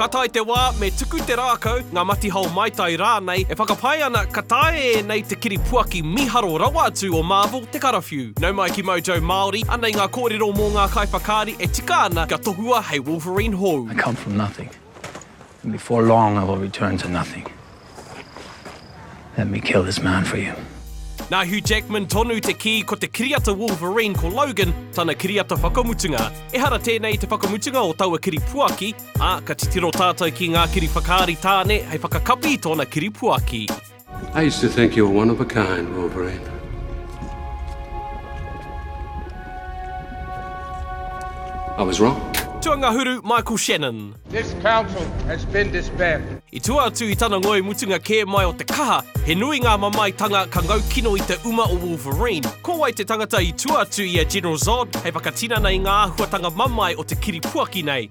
Ka tae te wā, me tuku te rākau, ngā matihao maitai rānei, e whakapae ana ka taea e ēnei te kiri puaki mīharo rawa atu o Marvel te karawhiu. Nau mai ki Mojo Māori, anei ngā kōrero mō ngā kaiwhakaari e tika ana kia tohua hei Wolverine hou. I come from nothing. And before long I will return to nothing. Let me kill this man for you. Nā Hugh Jackman tonu te kī ko te kiriata Wolverine ko Logan tana kiriata whakamutunga. Ehara tēnei te whakamutunga o taua kiripuaki, ā, ka titiro tātou ki ngā kiri whakaari tāne hei whakakapi i tōna kiripuaki. I used to think you were one of a kind, Wolverine. I was wrong. Tuangahuru Michael Shannon. This council has been disbanded. I tua atu i tana ngoi mutunga kē mai o te kaha, he nui ngā mamaetanga ka ngau kino i te uma o Wolverine. Ko wai te tangata i tua atu i a General Zod hei whakatinana i ngā āhuatanga mamae o te kiripuaki nei?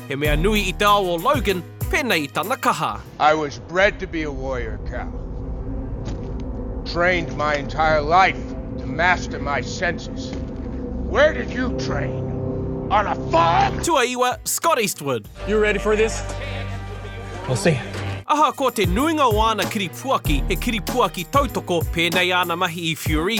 He mea nui i te ao o Logan pēnei i tana kaha. I was bred to be a warrior cow. Trained my entire life to master my senses. Where did you train? On a farm? Tuaiwa, Scott Eastwood. You ready for this? We'll see. Ahakoa te nuinga o āna kiripuaki he kiripuaki tautoko pēnei āna mahi i Fury,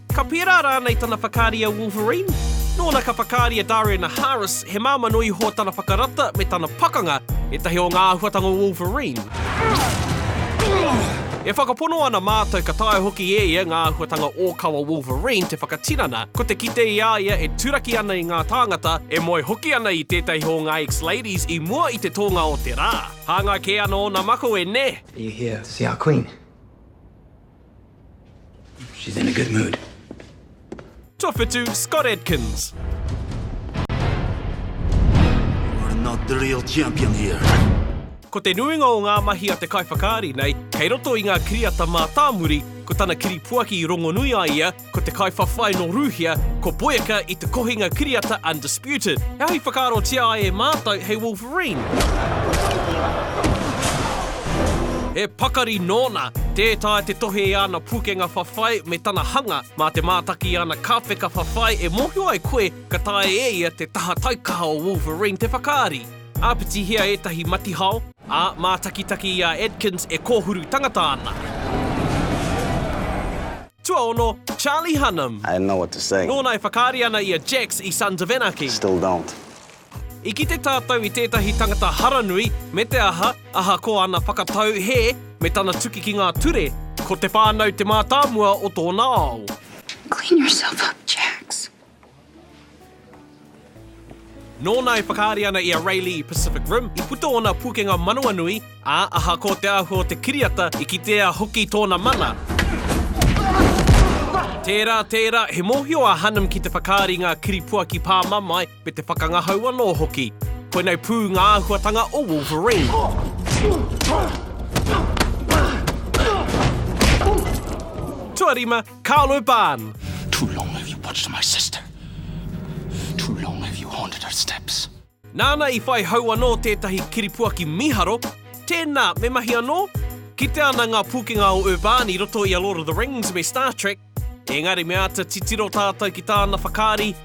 Ka pērā rānei tana whakaari a Wolverine? Nōna ka whakaari a Dariana Harris, he māmā nui iho tana whakarata me tana pakanga, ētahi o ngā āhuatanga o Wolverine. E whakapono ana mātou ka taea hoki e ia ngā āhuatanga ōkawa Wolverine te whakatinana, ko te kite i a ia e turaki ana i ngā tāngata, e moe hoki ana i tētahi o ngā ex-ladies i mua i te tōnga o te rā. Hāngai kē ana ōna mako e nē! Are you here to see our Queen? She's in a good mood. Tawhitu Scott Adkins. You are not the real champion here. Ko te nuinga o ngā mahi a te kaiwhakaari nei, kei roto i ngā kiriata mātāmuri, ko tana kiripuaki i rongonui a ia, Ko te kaiwhawhai nō Rūhia, ko Boyka i te kohinga kiriata Undisputed. He aha i whakaarotia ai e mātou hei Wolverine? He pakari nōna! Tē taea te tohe i āna pūkenga whawhai me tana hanga, mā te mātaki i āna kāpeka whawhai e mōhio ai koe ka taea e ia te taha taikaha o Wolverine te whakaari. Āpitihia ētahi matihao, ā, mātakitaki i a Adkins e kōhuru tangata ana. Tuaono, Charlie Hunnam. I didn't know what to say. Nōna e whakaari ana i a Jax i Sons of Anarchy. Still don't. I kite tātou i tētahi tangata haranui, me te aha, ahakoa ana whakatau hē, me tana tuki ki ngā ture, ko te whānau te mātāmua o tōna ao. Clean yourself up, Jax. Nōna e whakaari ana i a Raelī i Pacific Rim, i puta ōna pūkenga manawanui, ā, ahakoa te āhua o te kiriata, i kitea hoki tōna mana. Tērā, tērā, he mōhio a Hunnam ki te whakaari i ngā kiripuaki pāmamae me te whakangahau anō hoki. Koinei pū ngā āhuatanga o Wolverine. Tuarima, Carlo Barn. Too long have you watched my sister. Too long have you haunted her steps. Nāna i whai hau anō tētahi kiripuaki mīharo, tēnā, me mahi anō? Kitea ana ngā pūkenga o Urban i roto i a Lord of the Rings me Star Trek, engari me āta titiro tātou ki tāna whakaari,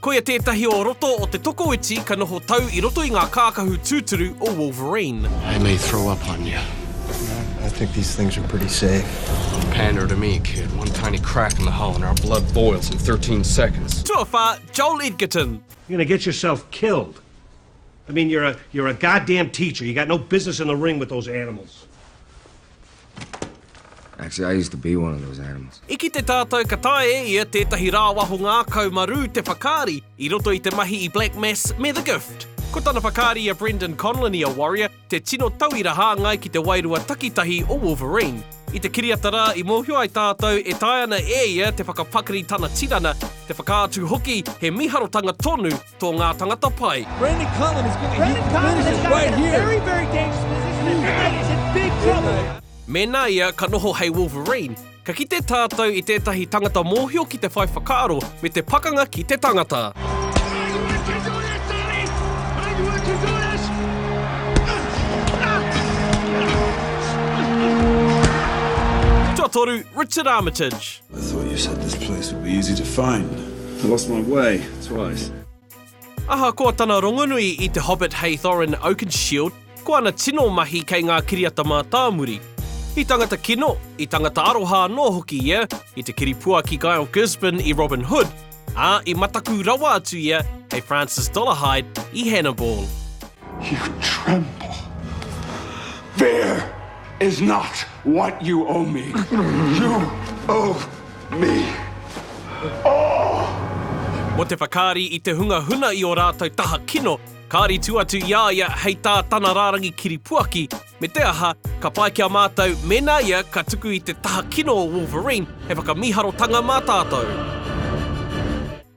Koia tētahi o roto o te tokoiti ka noho tau i roto i ngā kākahu tūturu o Wolverine. I may throw up on you. Nah, I think these things are pretty safe. Pander to me, kid. One tiny crack in the hull and our blood boils in 13 seconds. Tuawhā, Joel Edgerton. You're gonna get yourself killed. I mean, you're a, you're a goddamn teacher. You got no business in the ring with those animals. Actually, I used to be one of those animals. I kite tātou ka taea e ia tētahi rāwaho ngākau marū te whakaari i roto i te mahi i Black Mass me The Gift. Ko tana whakaari a Brendan Conlon i a Warrior, te tino tauira hāngai ki te wairua takitahi o Wolverine. I te kiriata rā i mōhio ai tātou e taea ana e ia te whakapakari tana tinana, te whakaatu hoki he mīharotanga tonu Tō ngā tangata pai. Brandon Cullen is going to hit the finishes right here. Very, very dangerous position. This guy is in big trouble. Mēnā ia ka noho hei Wolverine, ka kite tātou i tētahi tangata mōhio ki te whai whakaaro me te pakanga ki te tangata. Tuatoru, Richard Armitage. I thought you said this place would be easy to find. I lost my way twice. Ahakoa tana rongonui i te Hobbit hei Thorin Oakenshield, ko ana tino mahi kei ngā kiriata mātāmuri. I tangata kino, i tangata aroha anō hoki ia, i te kiripuaki Gael Gisborne i Robin Hood, ā, i mataku rawa atu ia kei Francis Dolarhyde i Hannibal. You tremble. Fear is not what you owe me. You owe me all! Mō te whakaari i te hunga huna i ō rātou taha kino, kāri tū atu i a ia hei tā tana rārangi kiripuaki, Me te aha, ka pai ki a mātou mēnā ia ka tuku i te taha kino o Wolverine, he whakamīharotanga mā tātou.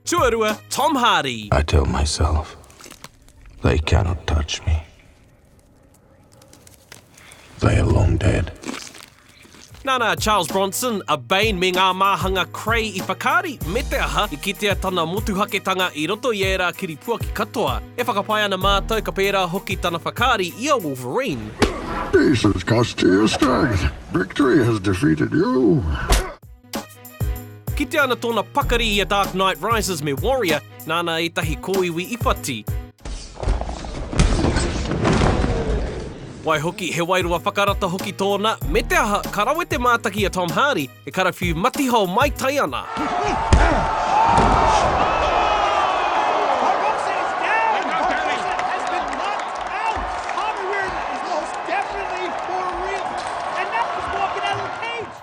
Tuarua, Tom Hardy. I tell myself, they cannot touch me. They are long dead. Nana a Charles Bronson, a Bain me ngā māhanga Krei i whakaari me te aha i kitea tana motuhaketanga i roto i ērā kiripuaki katoa. E whakapae ana mātou ka pērā hoki tana whakaari i a Wolverine. This has cost you your strength. Victory has defeated you. Kitea ana tōna pakari i A Dark Knight Rises me Warrior, nāna ētahi kōiwi i whati. Waihoki, he wairua whakarata hoki tōna, me te aha, ka rawe te mātaki a Tom Hardy e karawhiu matihao mai tai ana.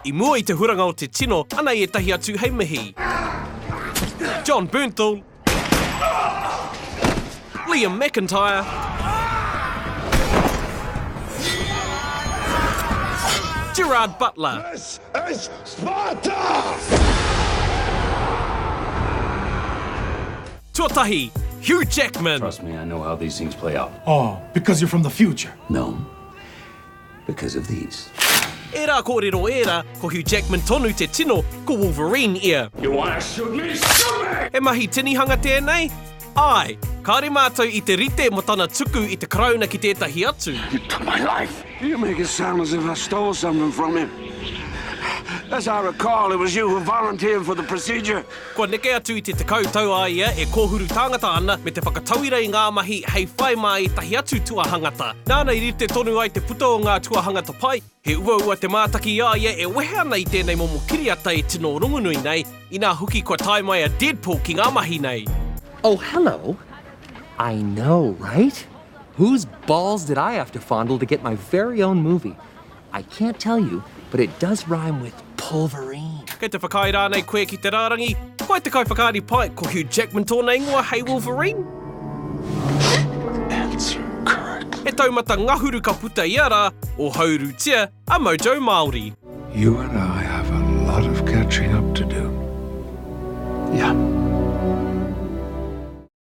I mua i te huranga o te tino, anei ētahi atu hei mihi. John Bernthal. Liam McIntyre. Gerard Butler. This is Sparta! Tuatahi, Hugh Jackman. Trust me, I know how these things play out. Oh, because you're from the future? No. because of these. Ērā kōrero ērā, ko Hugh Jackman tonu te tino, ko Wolverine ia. You want to shoot me? Shoot me! He mahi tinihanga tēnei? Āe, kāore mātou i te rite mō tana tuku i te Karauna ki tētahi atu. You took my life! You make it sound as if I stole something from him. As I recall, it was you who volunteered for the procedure. Kua neke atu i te tekau tau a ia e kōhuru tāngata ana me te whakatauira i ngā mahi hei whai mā ētahi atu tuahangata. Nāna i rite tonu ai te puta o ngā tuahangata pai, he uaua te mātaki i a ia e wehe ana i tēnei momo kiriata e tino rongonui nei, inā hoki kua tae mai a Deadpool ki ngā mahi nei. Oh hello, I know right? Whose balls did I have to fondle to get my very own movie? I can't tell you, but it does rhyme with polverine. Kei te whakaae rānei koe ki te rārangi? Ko ai te kaiwhakaari pai, ko Hugh Jackman tōna ingoa hei Wolverine? Answer correct. He taumata ngahuru ka puta ia rā, ohaurutia a Mojo Māori. You and I have a lot of catching up to do. Yeah.